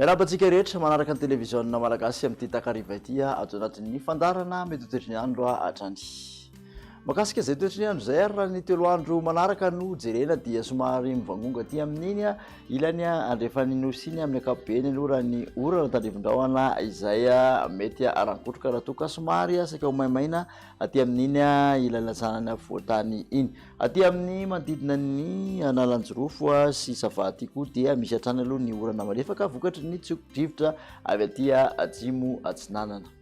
Miarahaba antsika rehetra manaraka ny televiziona malagasy amin'ity takariva ity ato anatin'ny fandaharana mety ho toetry ny andro hatrany. Makasika izay toetry ny andro izay ary raha ny telo andro manaraka no jerena dia somary mivangongo aty amin'iny ilany andrefan'ny nosy iny amin'ny ankapobeny aloha raha ny orana tandrivin-drahona izay mety harangotroka raha toa ka somary saika ho maimaina aty amin'iny ilany latsanan'ny afovoan-tany iny. Aty amin'ny manodidina ny Analanjirofo sy Sava aty koa dia misy hatrany aloha ny orana malefaka vokatry ny tsiokidrivotra avy aty atsimo atsinanana.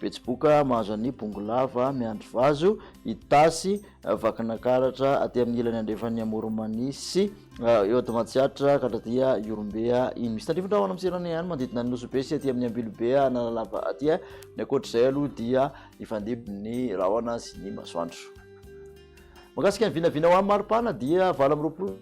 Betsiboka mahazo an'i Bongolava miandry vazo, Itasy, Vakinakaratra aty amin'ny ilany andrefan'ny Amoromanisy, eo Atomatsiatra ka hatraty Ihorombe iny. Misy tandrify ny rahona amin'ny seranana ihany manodidina ny Nosy-be sy aty amin'ny Ambilobe Analalava aty. Ny ankoatr'izay aloha dia hifandimby ny rahona sy ny masoandro. Mahakasika ny vinavina ho an'ny maripana dia valo amby roapolo.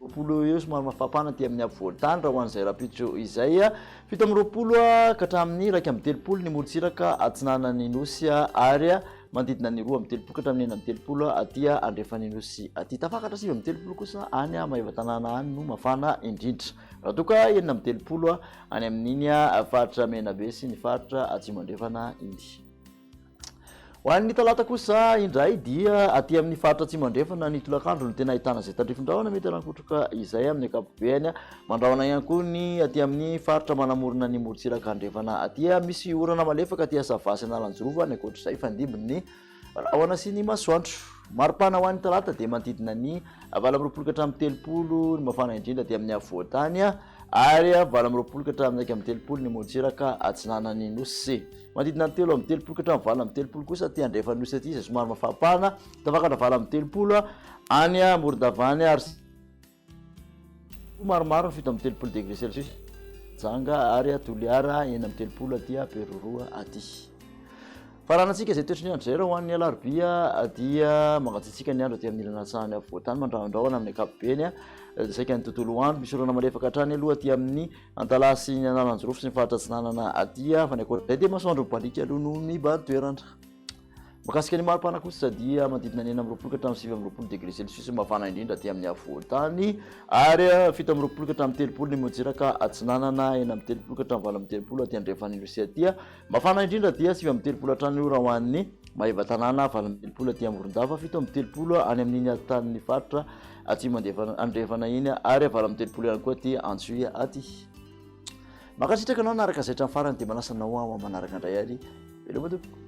roapolo eo somary mafapana aty amin'ny afovoan-tany raha ho an'izay rahampitso izay. Fito amby roapolo ka hatramin'ny iraika amby telopolo ny morontsiraka atsinanan'ny Nosy ary manodidina ny roa amby telopolo ka hatramin'ny enina amby telopolo aty andrefan'ny Nosy aty. Tafakatra sivy amby telopolo kosa any Maevatanàna any no mafana indrindra. Raha toa ka enina amby telopolo any amin'iny faritra Menabe sy ny faritra Atsimo Andrefana iny. Ho an'ny Talata kosa indray dia aty amin'ny faritra Atsimo Andrefana ny tolakandro no tena ahitana izay tandrifin-drahona mety hanan-kotroka izay amin'ny ankapobeny. Mandrahona ihany koa ny aty amin'ny faritra manamorona ny morontsiraka andrefana aty. Misy orana malefaka aty Asava sy Analanjirova any ankoatr'izay fandimbin'ny rahona sy ny masoandro. Mari-pana ho an'ny Talata dia manodidina ny valo amby roapolo ka hatramin'ny telopolo ny mafana indrindra aty amin'ny afovoan-tany ary valo amby roapolo ka hatramin'ny iraika amby telopolo ny morontsiraka atsinanan'ny nosy. Manodidina ny telo amby telopolo ka hatramin'ny valo amby telopolo kosa aty andrefan'ny nosy aty izay somary mafampana, tafakatra valo amby telopolo any Morondava-any ary maromaro fito amby telopolo degré celsius janga ary Toliara enina amby telopolo aty Beroroha aty. Faranantsika izay toetry ny andro izay raha ho an'ny alarobia dia mangatsiatsiaka ny andro aty amin'ny ilana atsahany afovoantany mandrahondrahona amin'ny ankapobeny saika ny tontolo andro misy orana malefaka hatrany aloha aty amin'ny Antalaha sy ny Analanjirofo sy ny faritra atsinanana aty fa ny ankoatr'izay dia masoandro mibaliaka aloha noho ny bado-toerana. Mikasika ny mari-pana kosa dia manodidina ny enina amby roapolo ka hatramin'ny sivy amby roapolo degré celsius mafana indrindra aty amin'ny afovoan-tany ary fito amby roapolo ka hatramin'ny telopolo ny moziraka atsinanana, enina amby telopolo ka hatramin'ny valo amby telopolo aty andrefan'ny nosy aty. Mafana indrindra dia sivy amby telopolo hatrany ora ho an'ny Maevatanàna, valo amby telopolo aty Morondava, fito amby telopolo any amin'iny aty tanin'ny faritra Atsimo andrefana iny ary avalo amby telopolo ihany koa aty Antsohihy aty. Mankasitraka anao naraka zay hatramin'ny farany dia manasa anao aho amin'ny manaraka indray ary veloma tompoko.